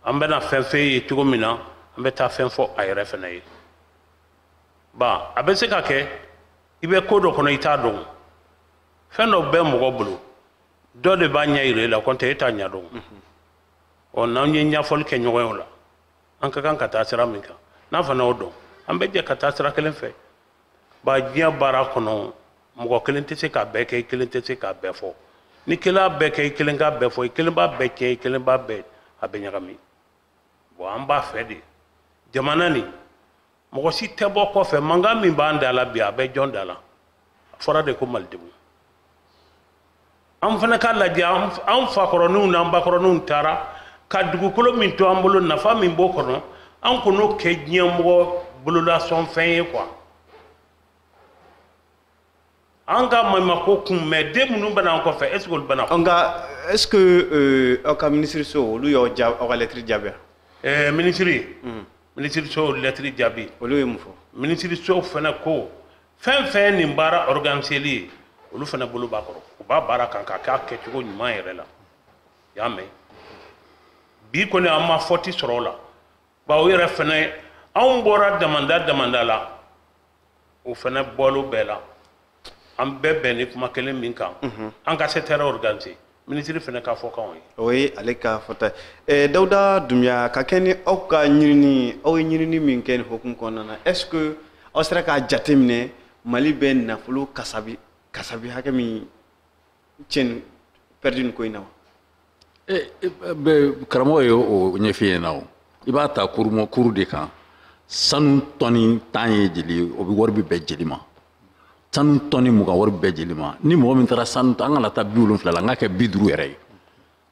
an bɛna fɛn fɛn ye cogo min na an bɛ taa fɛn fɔ a yɛrɛ fana ye ba a bɛ se ka kɛ i bɛ ko dɔ kɔnɔ i t'a dɔn fɛn dɔ bɛ mɔgɔ bolo dɔ de b'a ɲɛ yira i la kɔntɛ e t'a ɲɛ dɔn ɔ n'an ye ɲɛfɔli kɛ ɲɔgɔn ye o la an ka kan ka taa sira min kan n'a fana y'o dɔn an bɛ jɛ ka taa sira kelen fɛ ba diɲɛ baara kɔnɔ mɔgɔ kelen tɛ se k'a bɛɛ kɛ i kelen tɛ se k'a bɛɛ fɔ n'i kelen y'a bɛɛ kɛ i kelen k'a bɛɛ fɔ i kelen b'a bɛɛ tiɲɛ i kelen b'a bɛɛ a bɛ ɲagami bɔn an b'a fɛ de jamana nin mɔgɔ si tɛ bɔ kɔfɛ mankan min b'an da la bi a bɛ jɔn da la a fɔra de ko malidenw an fana k'a lajɛ an fakɔrɔninw n'an bakɔrɔninw taara ka dugukolo min to an bolo nafa min b'o kɔnɔ an kan'o kɛ diɲɛmɔgɔ bololasɔnfɛn ye quoi an ka maɲumako kun mais den minnu bɛ na an kɔfɛ est ce que olu bɛna nka est ce que euh, aw ka minisiriso olu y'aw ja aw ka lɛtiri jaabi eh, minisiri hmm. minisiriso lɛtiri jaabi olu ye mun fɔ minisiriso fana ko fɛn fɛn nin baara organiseli ye olu fana bolo b'a kɔrɔ u b'a baara kan k'a kɛ a kɛcogo ɲuman yɛrɛ la y'a mɛn bi kɔni an ma fɔti sɔrɔ o la bawo yɛrɛ fɛnɛ anw bɔra damanda damanda la o fɛnɛ bɔlo bɛɛ la an bɛɛ bɛnni kuma kelen min kan mhm. an ka secteur organisé minisiri fɛnɛ ka fɔkan o ye o ye ale ka fɔta ye eh, dawuda dunbiya ka kɛ ni aw ka ɲinini aw ye ɲinini min kɛ nin hukumu kɔnɔna na est ce que aw sera k'a jateminɛ mali bɛ nafolo kasabi kasabi hakɛ min cɛnni pɛridi nin ko in na wa eh, eh, karamɔgɔ ye o ɲɛf'i ɲɛna o i b'a ta kurumɔ kuru de kan sanu tɔni tan ye jeli o bɛ wari bɛ bɛn jeli ma sanu tɔni mugan wari bɛ bɛn jeli ma ni mɔgɔ min taara sanu an kana taa bi wolonfila la n k'a kɛ bi duuru yɛrɛ ye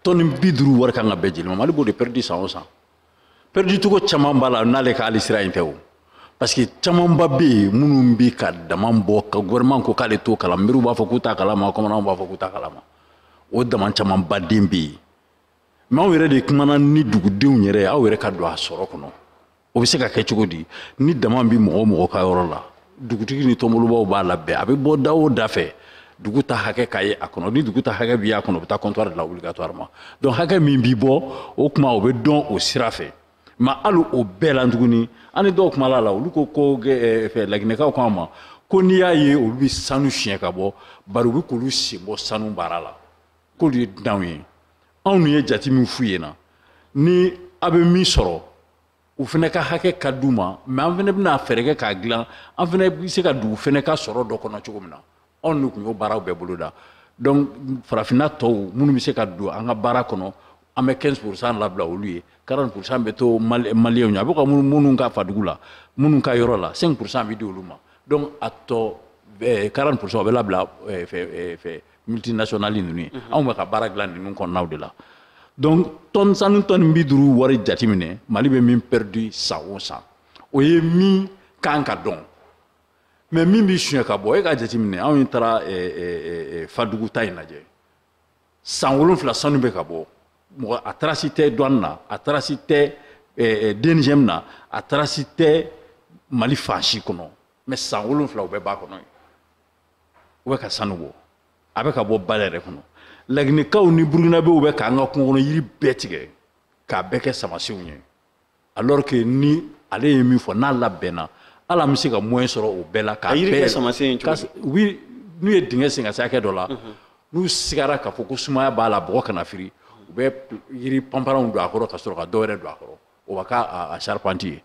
tɔni bi duuru wari kan ka bɛn jeli ma mali b'o de pɛridi san o san pɛridicogo caman b'a la n'ale ka hali sira in tɛ o parce que camanba bɛ yen minnu bɛ ka daman bɔ ka gouvernement ko k'ale t'o kalama mɛriw b'a fɔ k'u t'a kalama komandanw b'a fɔ k'u t'a kalama o daman camanba de bɛ yen mais aw yɛrɛ de kumana ni dugudenw yɛrɛ aw yɛrɛ ka don a sɔrɔ kɔnɔ o bɛ se ka kɛ cogo di ni daman bɛ mɔgɔ o mɔgɔ ka yɔrɔ la dugutigi ni tɔnbolobaw b'a labɛn a bɛ bɔ da o da fɛ dugu ta hakɛ ka ye a kɔnɔ ni dugu ta hakɛ bi a kɔnɔ o bɛ taa comptoir de la obligatoirement donc hakɛ min bi bɔ o kuma o bɛ dɔn o sira fɛ mais hali o bɛɛ la tuguni an ni dɔw kumala la olu ko ko eh, laginɛkaw ko an ma ko n'i y'a ye olu bɛ sanu suɲɛ ka bɔ bari u bɛ k'olu sen bɔ sanu baara la k'olu ye dunanw ye anw ye jate min f'u ɲɛna ni aw bɛ min sɔrɔ u fana ka hakɛ ka d'u ma mais an fana bɛna fɛɛrɛ kɛ k'a dilan an fana bɛ se ka dugu fana ka sɔrɔ dɔ kɔnɔ cogo min na anw de tun y'o baaraw bɛɛ boloda donc farafinna tɔw minnu bɛ se ka don an ka baara kɔnɔ an bɛ 15 pourcent labila olu ye 40 pourcent bɛ to maliyɛnw ye a bɛ ka minnu ka fadugu la minnu ka yɔrɔ la 5 pourcent bɛ di olu ma donc a tɔ 40 pourcent o bɛ labila fɛ multinationales ninnu ye anw bɛ ka baara dilan ninnu kɔnɔnaw de la donc sanu tɔni bi duuru wari jateminɛ mali bɛ min perdu san o san o ye min kan ka dɔn mais min bɛ suɲɛ ka bɔ e ka jateminɛ anw taara eh, eh, eh, fadugu ta in lajɛ san wolonfila sanu bɛ ka bɔ mɔgɔ a tarasi tɛ douane na a tarasi tɛ DNGM na a tarasi tɛ mali fan si kɔnɔ mais san wolonfila u bɛ ba kɔnɔ yen u bɛ ka sanu bɔ a bɛ ka bɔ ba yɛrɛ kɔnɔ laginɛkaw ni burukinabew bɛ k'an ka kungo kɔnɔ yiri bɛɛ tigɛ k'a bɛɛ kɛ samasenw ye alors que ni ale ye min fɔ n'a labɛnna hali an bɛ se ka moyen sɔrɔ o bɛɛ la k'a bɛɛ samasen oui n'u ye dingɛ sen ka se hakɛ dɔ la mhm. n'u sigara k'a fɔ ko sumaya b'a la bɔgɔ kana firi u bɛ yiri panparanw don a kɔrɔ ka sɔrɔ ka dɔ wɛrɛ don a kɔrɔ o b'a k'a charpente ye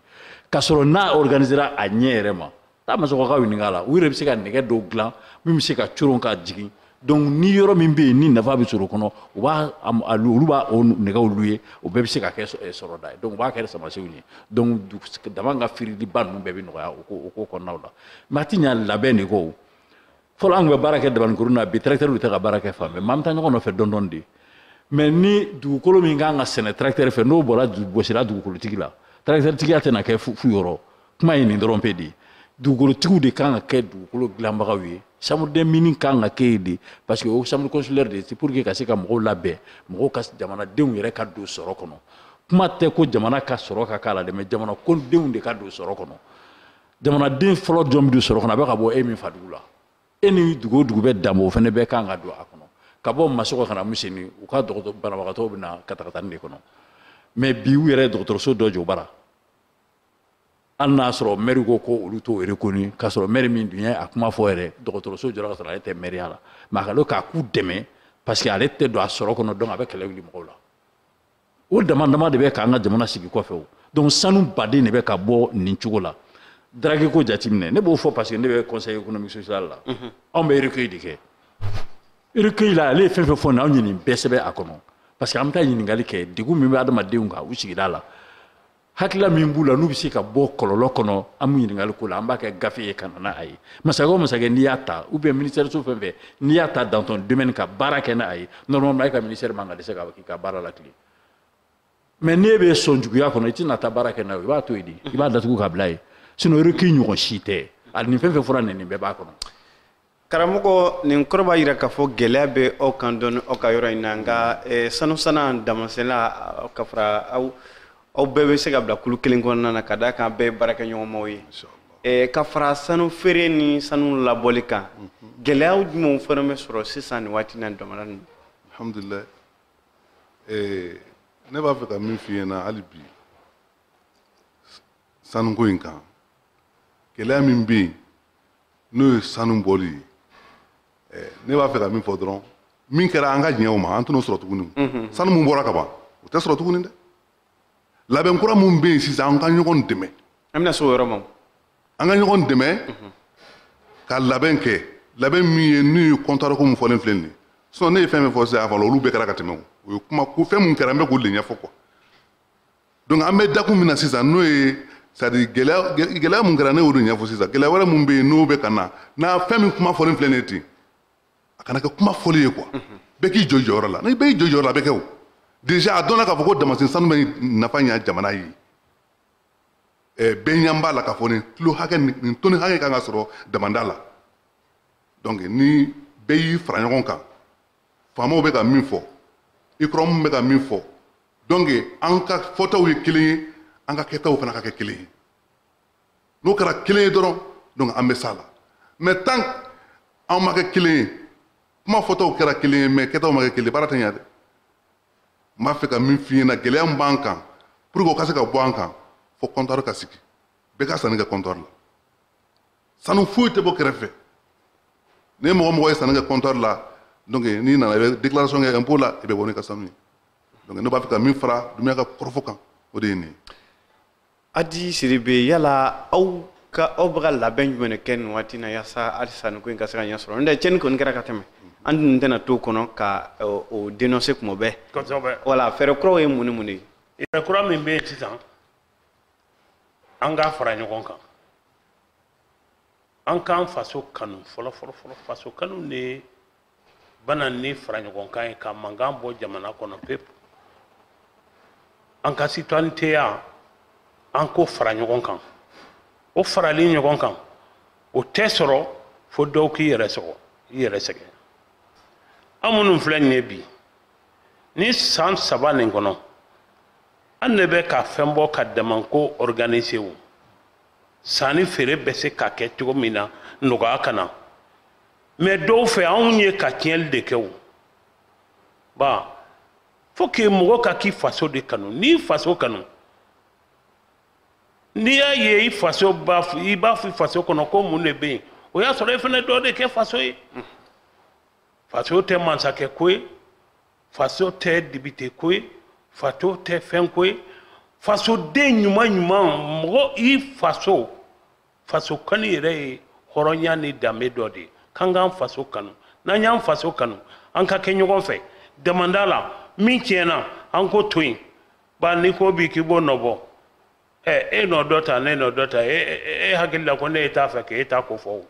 k'a sɔrɔ n'a organisera a ɲɛ yɛrɛ ma taa masɔgɔkaw ɲininka a la u yɛrɛ bɛ se ka nɛgɛ dɔw dilan min bɛ se ka coron ka jigin donc ni yɔrɔ min bɛ yen ni nafa bɛ sɔrɔ o kɔnɔ u b'a olu b'a o nɛgɛw lu ye o bɛɛ bɛ se ka kɛ sɔrɔda ye donc u b'a kɛ samasenw ye donc daman ka firiliba ninnu bɛɛ bɛ nɔgɔya o ko kɔnɔnaw la mais a tɛ ɲa labɛn de kɔ fɔlɔ an tun bɛ baara kɛ dabaninkurun na bi tracteur tɛ ka baara kɛ fan bɛɛ mais an bɛ taa ɲɔgɔn nɔfɛ dɔɔni dɔɔni de mais ni dugukolo min kan ka sɛnɛ tracteur fɛ n'o bɔra gosira dugukolotigi la tracteur tigiya tɛna kɛ fu yɔrɔ kuma ye nin dɔrɔn pe de ye dugukolotigiw de kan ka kɛ dugukolo dilanbagaw ye chambre des mines kan ka kɛ yen de parce que o chambre consulaire de pour que ka se ka mɔgɔw labɛn mɔgɔw ka jamanadenw yɛrɛ ka don sɔrɔ kɔnɔ kuma tɛ ko jamana ka sɔrɔ ka k'a la dɛ mais jamanadenw de ka don sɔrɔ kɔnɔ jamanaden fɔlɔ jɔn bɛ don sɔrɔ kɔnɔ a bɛ ka bɔ e min fadugu la e ni dugu o dugu bɛ danbɔ o fana bɛɛ kan ka don a kɔnɔ ka bɔ masɔgɔ ka na misɛni u ka dɔgɔtɔrɔ banabagatɔw bɛ na katakatani de kɔnɔ mais bi u yɛrɛ ye dɔgɔtɔrɔso dɔ jɔ bara hali n'a sɔrɔ mɛri ko ko olu t'o reconnu k'a sɔrɔ mɛri min dun ye a kuma fɔ yɛrɛ dɔgɔtɔrɔso jɔra ka sɔrɔ ale tɛ mɛriya la mais a ka kan k'u dɛmɛ parce que ale tɛ don a sɔrɔ kɔnɔ donc a bɛ kɛlɛ wuli mɔgɔw la o dama dama de bɛ k'an ka jamana sigi kɔfɛ o donc sanu baden de bɛ ka bɔ nin cogo la drague ko jateminɛ ne b'o fɔ parce que ne bɛ conseil économique social la mhm. anw bɛ recueil de kɛ recueil la ale ye fɛn fɛn fɔ nin anw ye nin bɛɛ sɛbɛn a kɔnɔ parce que an bɛ taa ɲininkali kɛ degun min bɛ adamadenw kan u sigida la hakilila min b'u la n'u bɛ se ka bɔ kɔlɔlɔ kɔnɔ an b'o ɲininkali k'u la an b'a kɛ gafe ye ka na n'a ye masakɛ o masakɛ n'i y'a ta ou bien ministère so fɛn fɛn n'i y'a ta dans ton domaine ka baara kɛ n'a ye normalement e ka ministère man ka dɛsɛ k'i ka baara latilen mais n'e bɛ sɔnjuguya kɔnɔ i tɛna taa baara kɛ n'a ye i b'a to yen de i b'a datugu ka bila yen sinon recueil ɲɔgɔn si tɛ a nin fɛn fɛn fɔra nin nin bɛɛ b'a kɔnɔ karamɔgɔ nin kɔrɔ b'a jira k'a fɔ gɛlɛya bɛ aw kan dɔɔni aw ka yɔrɔ in na nka eh, sanu sanna damasenna ka fara aw bɛɛ bɛ se ka bila kulu kelen kɔnɔna na ka d'a kan bɛɛ ye baarakɛɲɔgɔnmaw ye eh, ka fara sanu feere ni sanu labɔli kan mhm. gɛlɛyaw jumɛnw fana bɛ sɔrɔ sisan nin waati na damanda la alhamdulilayi eh, ne b'a fɛ ka min f'i ɲɛna hali bi sanuko in kan gɛlɛya min bɛ yen n'o ye sanu bɔli ye eh, ne b'a fɛ ka min fɔ dɔrɔn min kɛra an ka diɲɛw ma an tɛn'o sɔrɔ tuguni mhm. sanu mun bɔra ka ban o tɛ sɔrɔ tuguni dɛ labɛn kura mun bɛ yen sisan an ka ɲɔgɔn dɛmɛ an bɛna se o yɔrɔ ma an ka ɲɔgɔn dɛmɛ mhm. ka labɛn kɛ labɛn min ye n'o ye comptoir ko mun fɔlen filɛ nin ye sinon ne ye fɛn fɛn fɔ sisan a fɔ olu bɛɛ kɛra ka tɛmɛ o ye kuma ko fɛn mun kɛra n bɛ k'o de ɲɛfɔ quoi donc an bɛ dakun min na sisan n'o ye c'est à dire gɛlɛya mun kɛra ne y'o de ɲɛfɔ sisan gɛlɛya wɛrɛ mun bɛ yen n'o bɛ ka na n'a fɛn min kuma fɔlen filɛ nin ye ten a kana kɛ kuma fɔli ye quoi bɛɛ k'i jɔ jɔyɔrɔ la ni bɛɛ y'i jɔ jɔyɔrɔ la a bɛ kɛ o déjà a dɔnna k'a fɔ ko damasen sanu bɛ nafa ɲɛ jamana ye bɛɛ ɲɛ b'a la k'a fɔ nin kilo hakɛ nin toni hakɛ kan ka sɔrɔ damanda la donc ni bɛɛ y'i fara ɲɔgɔn kan faamaw bɛ ka min fɔ UCROM bɛ ka min fɔ donc an ka fɔtaw ye kelen ye an ka kɛtaw fana ka kɛ kelen ye n'o kɛra kelen ye dɔrɔn donc an bɛ s'a la mais tant an ma kɛ kelen ye kuma fɔtaw kɛra kelen ye mais kɛtaw ma kɛ kelen baara tɛ ɲɛ dɛ n b'a fɛ ka min f'i ɲɛna gɛlɛya min b'an kan pour que o ka se ka bɔ an kan fo comptoir ka sigi bɛɛ ka sanni kɛ comptoir la sanu foyi tɛ bɔ kɛrɛfɛ ni mɔgɔ mɔgɔ ye sanni kɛ comptoir la donc n'i nana i bɛ déclaration kɛ impôt la i bɛ bɔ n'i ka sanu ye donc ne b'a fɛ ka min fara Dumbuya ka kɔrɔfɔ kan o de ye nin ye. Adi Sidibe yala aw bɛ ka labɛn jumɛn de kɛ nin waati in na yasa halisa nin ko in ka se ka ɲɛ sɔrɔ n'o tɛ cɛnni kɔni kɛra ka tɛmɛ an dun tɛna to o kɔnɔ ka o dénoncer kuma bɛɛ. Kosɛbɛ. Voilà fɛɛrɛ kuraw ye mun ni mun de ye. Fɛɛrɛ kura min bɛ yen sisan an ka fara ɲɔgɔn kan an k'an faso kanu fɔlɔ fɔlɔ fɔlɔ faso kanu de bɛ na ni fara ɲɔgɔn kan ye ka mankan bɔ jamana kɔnɔ pewu an ka citoyennetéya an k'o fara ɲɔgɔn kan o farali ɲɔgɔn kan o tɛ sɔrɔ fo dɔw k'i yɛrɛ sɔgɔ i yɛrɛ sɛgɛn an minnu filɛ nin ye bi ni san saba nin kɔnɔ an ne bɛ ka fɛn bɔ ka damanko organiser o sanni feere bɛ se ka kɛ cogo min na nɔgɔya ka na mais dɔw fɛ anw ye ka tiɲɛli de kɛ o ba faut que mɔgɔ ka k'i faso de kanu n'i faso kanu n'i y'a ye i faso b'a i b'a fɔ i faso kɔnɔ ko mun de bɛ yen o y'a sɔrɔ i fana dɔ de kɛ faso ye faso tɛ mansakɛ ko ye faso tɛ dibite ko ye faso tɛ fɛn ko ye fasoden ɲuman ɲuman mɔgɔ i faso faso kanu yɛrɛ ye hɔrɔnya ni danbe dɔ de ye k'an k'an faso kanu n'an y'an faso kanu an ka kɛ ɲɔgɔn fɛ damanda la min tiɲɛna an k'o to yen ba n'i ko bi k'i b'o nɔbɔ ɛ e nɔ dɔ ta ne nɔ dɔ ta e, e, e, e hakili la ko ne e t'a fɛ k'e ta ko fɔ o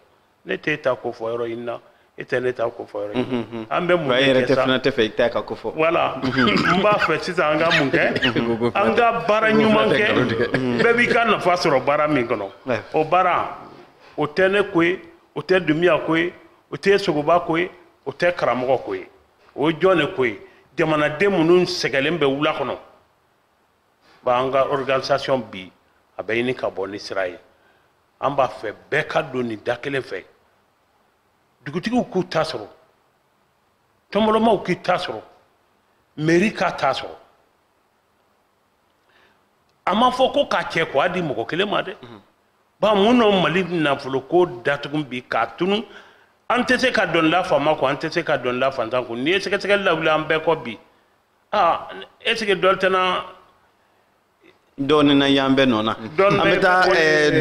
ne t'e ta ko fɔ yɔrɔ in na e tɛ ne ta ko fɔ yɔrɔ in na mhm, mhm. an bɛ mun de kɛ sa e yɛrɛ tɛ fana tɛ fɛ i ta ka ko fɔ voilà mhm. n b'a fɛ sisan an ka mun kɛ an ka baara ɲuman kɛ bɛɛ b'i ka nafa sɔrɔ baara min kɔnɔ o baara o tɛ ne ko ye o tɛ dumiya ko ye o tɛ sogoba ko ye o tɛ karamɔgɔ ko ye o ye jɔn de ko ye jamanaden minnu sɛgɛnlen bɛ wula kɔnɔ ba an ka organisation bi a bɛ ɲini ka bɔ ni sira ye an b'a fɛ bɛɛ ka don nin da kelen fɛ dugutigiw k'u ta sɔrɔ tɔnbɔlɔmaw k'i ta sɔrɔ meri k'a ta sɔrɔ a ma fɔ ko k'a cɛ k'a di mɔgɔ kelen ma dɛ mhm. ba mun nɔ mali nafolo ko datugu bi k'a tunu an tɛ se ka doni la faama kun an tɛ se ka doni la faantan kun n'i ye sɛgɛsɛgɛli lawuli an bɛɛ kɔ bi aa est ce que dɔ tɛna dɔɔnin na y'an bɛɛ nɔ na an bɛ taa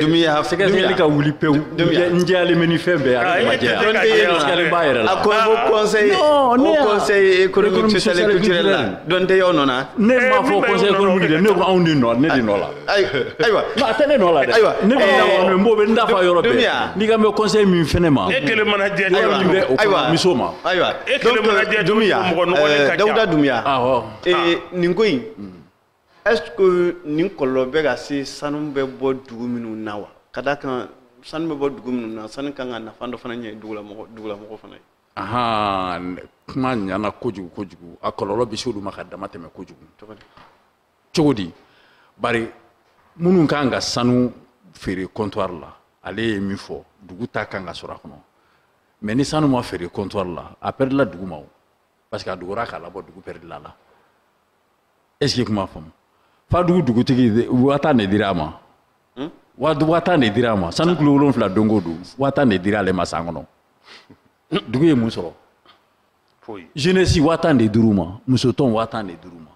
dumiya sɛgɛsɛgɛli ka wuli pewu n jɛyalen bɛ ni fɛn bɛɛ a ma jɛya dɔɔnin bɛ yen sɛgɛlen b'a yɛrɛ la a ko ko conseil o conseil économique social et culturel la dɔɔnin tɛ y'aw nɔ na ne m'a fɔ conseil économique dɛ ne ko anw de nɔ ne de nɔ la ayiwa a tɛ ne nɔ la dɛ ayiwa ne bɛ na kɔni n b'o bɛ n da fa yɔrɔ bɛɛ n'i ka mɛ conseil min fɛnɛ ma e kelen mana jɛ ayiwa min bɛ o kɔnɔ muso ma ayiwa e kelen mana jɛ dumiya mɔgɔ nɔgɔlen ka ca dawuda dumiya ee nin ko in est ce que nin kɔlɔlɔ bɛ ka se sanu bɛ bɔ dugu minnu na wa ka d'a kan sanu bɛ bɔ dugu minnu na sanu kan ka nafa dɔ fana ɲɛ dugulamɔgɔ dugulamɔgɔ fana ye ahan kuma ɲana kojugu kojugu a kɔlɔlɔ bɛ se olu ma ka dama tɛmɛ kojugu cogo di bari minnu kan ka sanu feere comptoir la ale ye min fɔ dugu ta kan ka sɔrɔ a kɔnɔ mais ni sanu ma feere comptoir la a pɛrɛdila dugu ma o parce que a dogora k'a labɔ dugu pɛrɛdila la est ce que kuma faamu fadugu dugutigi waa tan de dira a ma hmm? waa tan de dira a ma sanu kilo wolonfila don o don waa tan de dira ale ma san kɔnɔ dugu ye mun sɔrɔ jeunesse waa tan de dir'u ma musotɔn waa tan de dir'u ma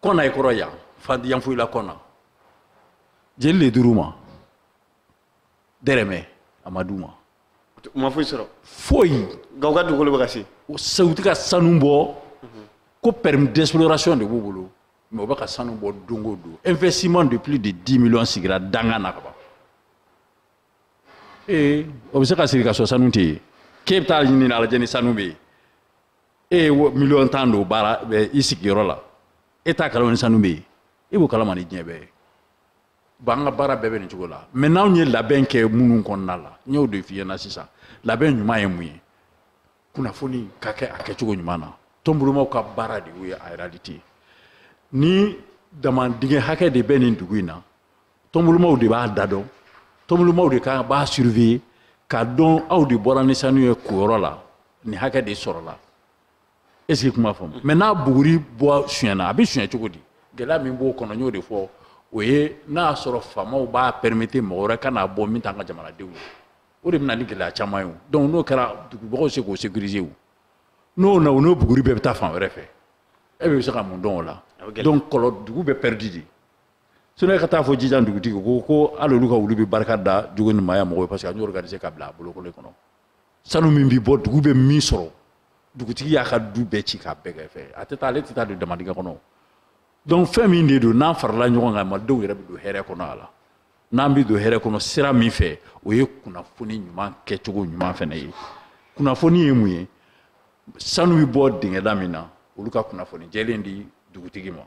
kɔna i kɔrɔ yan fan yanfolila kɔna jeli le dir'u ma dɛrɛmɛ a ma d'u ma u ma foyi sɔrɔ foyi nka u ka dugukolo bɛ ka sen u tɛ ka sanu bɔ ko permis d'exploration de b'u bolo mais u bɛ ka sanu bɔ don o don investissement de plus de 10 millions sigira danga na ka ban ee o bɛ se ka sigi ka sɔrɔ sanu tɛ yen k'e bɛ taa ɲini a lajɛ ni sanu bɛ yen e ye miliyɔn tan don baara i sigiyɔrɔ la e t'a kalama ni sanu bɛ yen e b'o kalama ni diɲɛ bɛɛ ye bon an ka baara bɛɛ bɛ nin cogo la mais n'anw ye labɛn kɛ minnu kɔnɔna la n y'o de f'i ɲɛna sisan labɛn ɲuman ye mun ye kunnafoni ka kɛ a kɛcogo ɲuman na tɔnbolomaw ka baara de y'o ye en réalité ni damandingɛ hakɛ de bɛ nin dugu in na tɔnbolomaw de b'a da dɔn tɔnbolomaw de kan b'a surveiller k'a dɔn aw de bɔra ni sanu ye koyɔrɔ la nin hakɛ de sɔrɔla est ce que kuma faamu mais n'a buguri bɔ sonyɛna a bɛ sonyɛ cogo di gɛlɛya min b'o kɔnɔ n y'o de fɔ o ye n'a y'a sɔrɔ faamaw b'a permettre mɔgɔ wɛrɛ ka n'a bɔ min t'an ka jamanadenw ye o de bɛ na ni gɛlɛya caman ye o donc n'o kɛra dugubagaw se k'o sécuriser o n'o na o n'o buguri bɛɛ bɛ taa fan wɛrɛ fɛ e bɛ se ka mun dɔn o la donc kɔrɔ dugu bɛ pɛridi de sinon e ka taa fɔ jijan dugutigi ko ko hali olu ka wulu bɛ barika da jogo ni maaya mɔgɔw ye parce que an y'o organiser ka bila a bolokoli kɔnɔ sanu min bɛ bɔ dugu bɛ min sɔrɔ dugutigi y'a ka du bɛɛ ci k'a bɛɛ kɛ fɛ a tɛ taa ale tɛ taa don damandingɛ kɔnɔ donc fɛn min de don n'an farala ɲɔgɔn kan malidenw yɛrɛ bɛ don hɛrɛ kɔnɔ a la n'an bɛ don hɛrɛ kɔnɔ sira min fɛ o ye kunnafoni ɲuman kɛcogo ɲuman fana ye kunnafoni ye mun ye sanu bɛ bɔ dingɛda min na olu ka kunnafoni jɛlen di dugutigi ma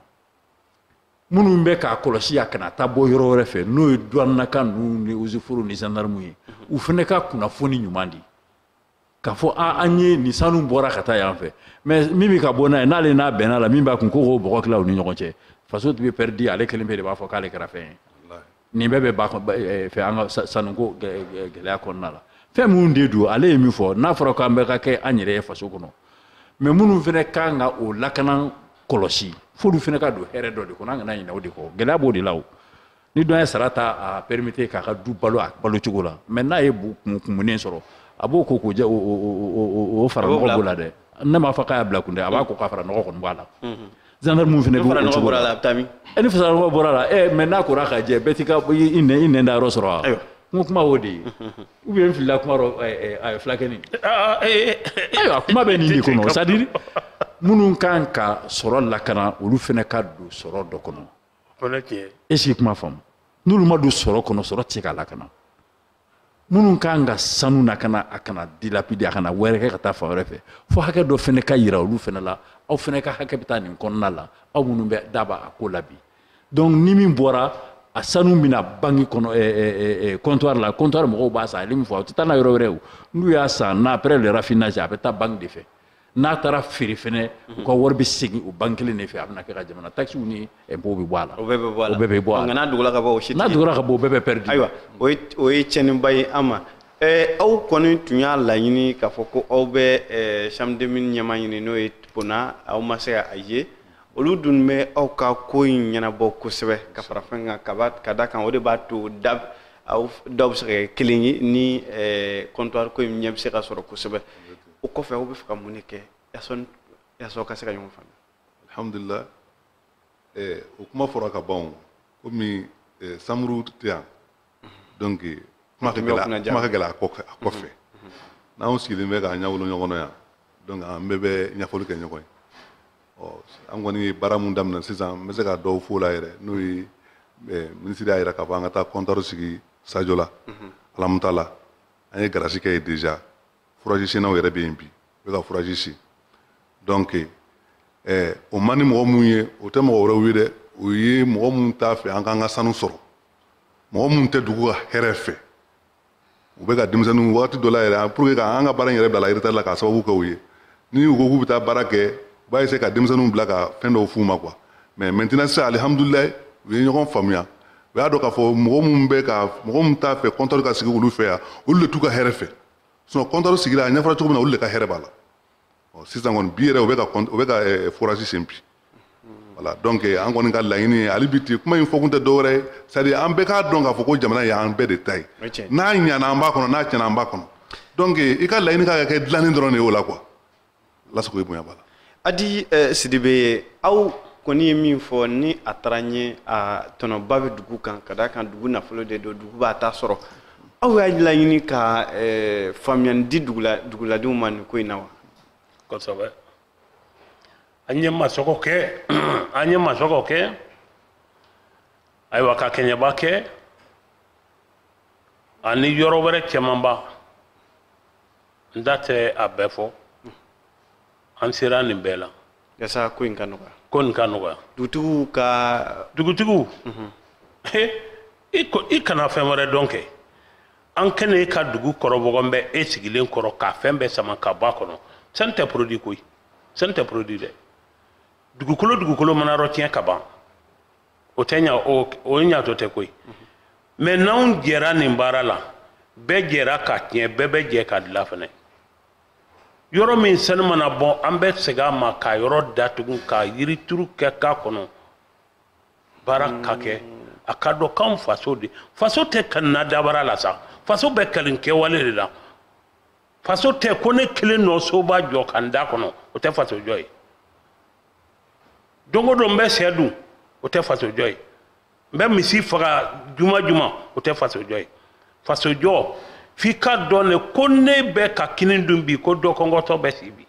minnu bɛ k'a kɔlɔsi a kana taa bɔ yɔrɔ wɛrɛ fɛ n'o ye duwannakaw ninnu ni ozeforo ni zandarmu ye u fana ka kunnafoni ɲuman di k'a fɔ a an ye nin sanu bɔra ka taa yan fɛ mais min bɛ ka bɔ n'a ye n'ale n'a bɛnna la min b'a kun ko k'o bɔgɔ tila u ni ɲɔgɔn cɛ faso tun bɛ pɛridi ale kelenpe de b'a fɔ k'ale kɛra fɛn ye nin bɛɛ bɛ ba eh, fɛ an ka sanuko gɛlɛya kɔnɔna la fɛn minnu de don ale ye min fɔ n'a fɔra k'an bɛɛ ka kɛ an yɛrɛ ye faso kɔnɔ mais minnu fana kan ka o lakana kɔlɔsi f'olu fana ka don hɛrɛ dɔ de kɔnɔ an kana ɲinɛ o de kɔ gɛlɛya b'o de la o ni dɔ ye sara ta a permettre k'a ka du balo a balo cogo la mais n'a ye kumunen sɔrɔ a b'o ko k'o jɛ o fara nɔgɔ b'o la dɛ ne m'a fɔ k'a y'a bila kun dɛ a b'a ko k'a fara nɔgɔ kɔni b'a la zandarmu fana b'o cogo la a bɛ taa min e ni fara nɔgɔ bɔra la ɛ mais n'a kora ka jɛ bɛɛ t'i ka i nɛ i nɛn da yɔrɔ sɔrɔ wa n ko kuma o de ye ou bien n filila kuma rɔ a fulakɛni ayiwa kuma bɛ nin de kɔnɔ c'est à dire minnu kan ka sɔrɔ lakana olu fana ka don sɔrɔ dɔ kɔnɔ est ce que kuma faamu n'olu ma don sɔrɔ kɔnɔ sɔrɔ tɛ se ka lakana minnu kan ka sanu lakana a kana dilapider a kana yɛrɛkɛ ka taa fan wɛrɛ fɛ fo hakɛ dɔ fɛnɛ ka yira olu fɛnɛ la aw fɛnɛ ka hakɛ bɛ taa nin kɔnɔna la aw minnu bɛ daba a ko la bi donc ni min bɔra a sanu bɛ na banque kɔnɔ eh, eh, eh, comptoir la comptoir mɔgɔw b'a san ale min fɔ u tɛ taa n'a yɔrɔ wɛrɛ o n'u y'a san n'a après le raffinage a bɛ taa banque de fɛ n'a taara feere fɛnɛ u ka wari bɛ segin o banque kelen de fɛ a bɛna kɛ ka jamana taxes ni impôts bɛ bɔ a la. o bɛɛ bɛ bɔ a la o bɛɛ bɛ bɔ a la nka n'a dogora ka bɔ o si tɛ n'a dogora ka bɔ o bɛɛ bɛ perdre. ayiwa o ye o ye tiɲɛniba ye an ma ɛɛ aw kɔni tun y'a laɲini k'a fɔ ko aw bɛ ɛɛ chambre des mines ɲɛmaa ɲini n'o ye Pona aw ma se ka a ye olu dun bɛ aw ka ko in ɲɛnabɔ kosɛbɛ ka fara fɛn kan ka da kan o de b'a to da aw daw bɛ se ka kɛ kelen ye ni ɛɛ comptoir ko in ɲɛ bɛ se ka sɔrɔ kosɛbɛ. o kɔfɛ aw bɛ fɛ ka mun de kɛ yaasa aw ka se ka ɲɔgɔn faamuya alhamdulilah eh, o kuma fɔra ka ban o komi eh, Samuru tɛ yan donc kuma ka gɛlɛ a kɔ- a kɔfɛ n'anw sigilen bɛ k'an ɲɛwolo ɲɔgɔn na yan donc an bɛɛ bɛ ɲɛfɔli kɛ ɲɔgɔn ye ɔ an kɔni ye baara mun daminɛ sisan n bɛ se ka dɔw f'o la yɛrɛ n'o ye eh, minisiri y'a yira k'a fɔ an ka taa comptoir sigi Sajola Alamutala an ye garasi kɛ yen déjà forage sennaw yɛrɛ bɛ yen bi u bɛ ka forage sen donc eh, o man di mɔgɔ minnu ye o tɛ mɔgɔ wɛrɛw ye dɛ o ye mɔgɔ minnu t'a fɛ an k'an ka sanu sɔrɔ mɔgɔ minnu tɛ dugu ka hɛrɛ fɛ u bɛ ka denmisɛnninw wagati dɔ la yɛrɛ pour que k'an ka baara in yɛrɛ bila la retard la k'a sababu kɛ u ye ni u ko k'u bɛ taa baara kɛ u b'a essayer ka denmisɛnninw bila ka fɛn dɔw f'u ma quoi mais maintenant sisan alihamudulilayi u ye ɲɔgɔn faamuya u y'a dɔn k'a fɔ mɔgɔ minnu bɛ ka mɔgɔ minnu t'a fɛ comptoir ka sigi olu fɛ yan olu de t'u ka hɛrɛ fɛ sinon comptoir sigira a ɲɛfɔra cogo min na olu de ka hɛrɛ b'a la sisan kɔni bi yɛrɛ u bɛ ka u bɛ ka forage sen bi voilà donc an kɔni ka laɲini ye hali bi ten kuma in fɔkun tɛ dɔwɛrɛ ye c'est à dire an bɛɛ k'a dɔn k'a fɔ ko jamana ye an bɛɛ de ta ye n'a ɲana an b'a kɔnɔ n'a tiɲɛna an b'a kɔnɔ donc i ka laɲini ka kɛ dilanni dɔrɔn de ye o la quoi lasago ye bonya b'a la adi eh, sidibe ye aw kɔni ye min fɔ ni a taara ɲɛ a tɔnɔba bɛ dugu kan ka d'a kan dugu nafolo de don dugu b'a ta sɔrɔ aw y'a laɲini ka eh, faamuyani di dugula duguladenw ma nin ko in na wa kosɛbɛ an ye masɔgɔ kɛ an ye masɔgɔ kɛ ayiwa ka kɛɲɛba kɛ ani yɔrɔ wɛrɛ cɛmanba n da tɛ a bɛɛ fɔ an sera nin bɛɛ la yasa ko in ka nɔgɔya ko nin ka nɔgɔya dugutigiw ka dugutigiw mhm. i kana fɛn wɛrɛ dɔn kɛ an ka na ka dugu kɔrɔ wɔgɔbɛ e sigilen kɔrɔ k'a fɛn bɛɛ sama ka bɔ a kɔnɔ sani tɛ produit koyi sani tɛ produit dɛ dugukolo dugukolo mana yɔrɔ tiɲɛ ka ban o tɛ ɲa o o ɲatɔ tɛ koyi mais n'anw jɛra nin baara la bɛɛ jɛra ka tiɲɛ bɛɛ bɛ jɛ ka dila fana yɔrɔ min sanu mana bɔ an bɛ segin a ma ka yɔrɔ datugu ka yirituru kɛ k'a kɔnɔ baara ka kɛ a ka dɔn k'anw faso de faso tɛ kanin na dabara la sa faso bɛ kanin kɛwale de la faso tɛ ko ne kelen nɔ soba jɔ ka n da kɔnɔ o tɛ faso jɔ ye don o don n bɛ sɛ dun o tɛ fasojɔ ye n bɛ misi faga juma juma o tɛ fasojɔ ye fasojɔ f'i ka dɔn de ko ne bɛ ka kini dun bi ko dɔ kɔngɔtɔ bɛ si bi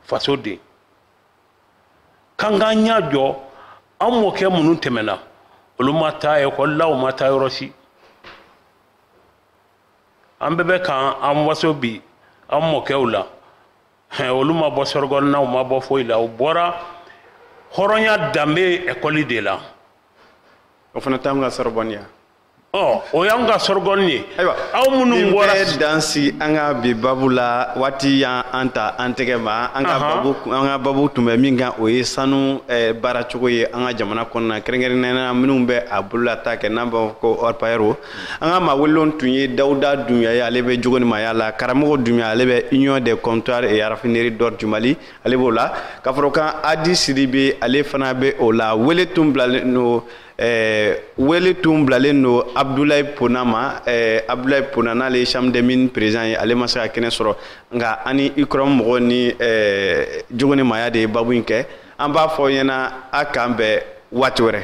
faso den k'an k'an ɲɛ jɔ an mɔkɛ minnu tɛmɛna olu ma taa ekɔli la u ma taa yɔrɔ si an bɛɛ bɛ k'an an waso bi an mɔkɛw la hɛn olu ma bɔ sorbonne na u ma bɔ foyi la u bɔra hɔrɔnya danbe ekɔli de la o fana t'anw ka sorbonne ye wa o y'anw ka sorbonne ye ayiwa aw minnu bɔra nin bɛɛ dan si an ka bi babu la waati y'an an ta an tɛgɛ ma an ka babu an ka babu tun bɛ min kan o ye sanu eh, baaracogo ye an ka jamana kɔnɔna kɛrɛnkɛrɛnnenya minnu bɛ a bololata kɛ n'an b'a fɔ ko orpailleur an ka maa welelenw tun ye dawuda dunbuya ye ale bɛ jogo ni maaya la karamɔgɔ dunbuya ale bɛ union des comptoirs et raffineries d'or du mali ale b'o la ka fara o kan adi sidibe ale fana bɛ o la wele tun bilalen don eh, wele tun bilalen don abdulayi pona ma eh, abdulayi pona n'ale ye chambre des mines président ye ale ma se ka kɛnɛ sɔrɔ nka an ni ucrom mɔgɔ ni eh, jogo ni maaya de ye babu in kɛ an b'a fɔ ɲɛna a k'an bɛn waati wɛrɛ